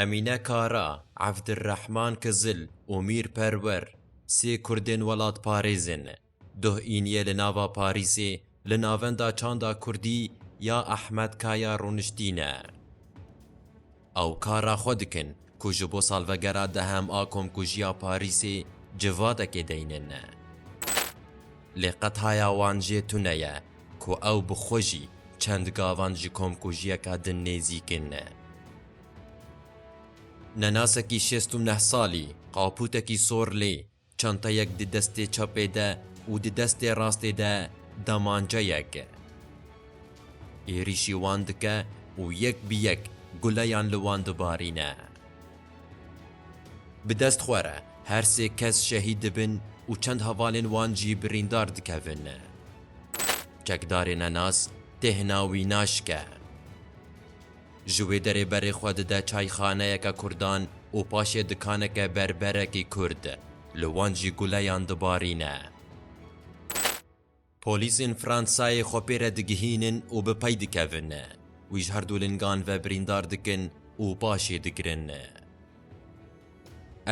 Emîne Kara, Evdirrehman Kizil û Mîr Perwer sê kurdên welatparêzê ne. Duh îniye li nava Parîsê li navenda çanda kurdî ya Ehmed Kaya rûniştîne. Ew kara xwe dikin ku ji bo salvegera dehem a Komkujiya Parîsê civadekê deynin. Lê qetaya wan jê tune ye ku ew bi xwe jî çend gavan ji komkujiyeke din nêzîkên ne. Nenasekî şêst û neh salî, qaputekî sor lê çanteyek di destê çapê de û di destê rastê de demanceyek. Êrîşî wan dike û yek bi yek guleyan li wan dibarîne. Bi dest xwe re her sê kes şehîd dibin û çend hevalên wan jî birîndar dikevin. Çekdarê nenas têhna wî naşke. Ji wê derê berê xwe dide çayxaneyeke kurdan û paşê dikaneke berberekî kurd. Li wan jî guleyan dibarîne. Polîsên Fransayê xwe pê re digihînin û bi pey dikevin. Wî ji her du lingan ve birîndar dikin û paşê digirin.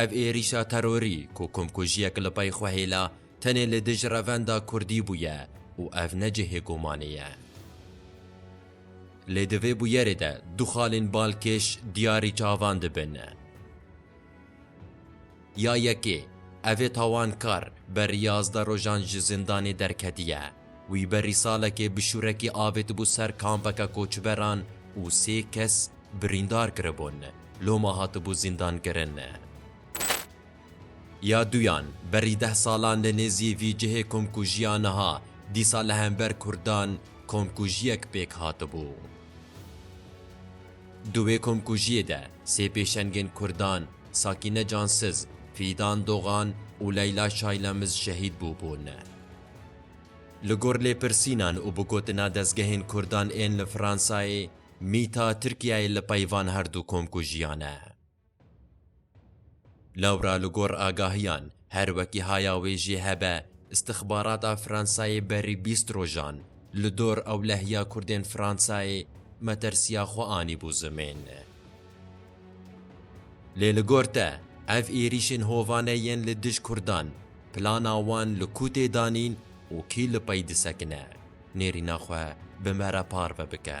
Ev êrîşa terorî ku komkujiyek li pey xwe hêla tenê li dij revenda kurdî bûye û ev ne cihê gumanê ye. Lê di vê bûyerê de du xalên balkêş diyarî çavan dibin. Ya yekê, evê tawankar berî yazdeh rojan ji zindanê derketiye. Wî berî salekê bi şûrekî avêtibû ser kampeke koçberan û sê kes birîndar kiribûn, loma hatibû zîndankirin. Ya duyan, berî deh salan li nêzî vî cihê komkujiya niha, dîsa li hember kurdan komkujiyek pêk hatibû. Di wê komkujiyê de sê pêşengên kurdan Sakîne Cansiz, Fîdan Dogan û Leyla Şaylemiz şehîd bûbûn. Li gor lêpirsînan û bi gotina dezgehên Kurdan ên li Fransayê, mîta Tirkiyeyê li peyvan her du komkujiyan e. Lewra li gor agahiyan, her wekî haya wê jê hebe, îstixbarata Fransayê berî bîst rojan li dor ewlehiya Kurdên Fransayê metersiya xwe anîbû zimên. Lê li gor te, ev êrîşên hovane yên li dij kurdan, plana wan li ku tê danîn û kî li pey disekine? Nêrîna xwe bi me re parve bike.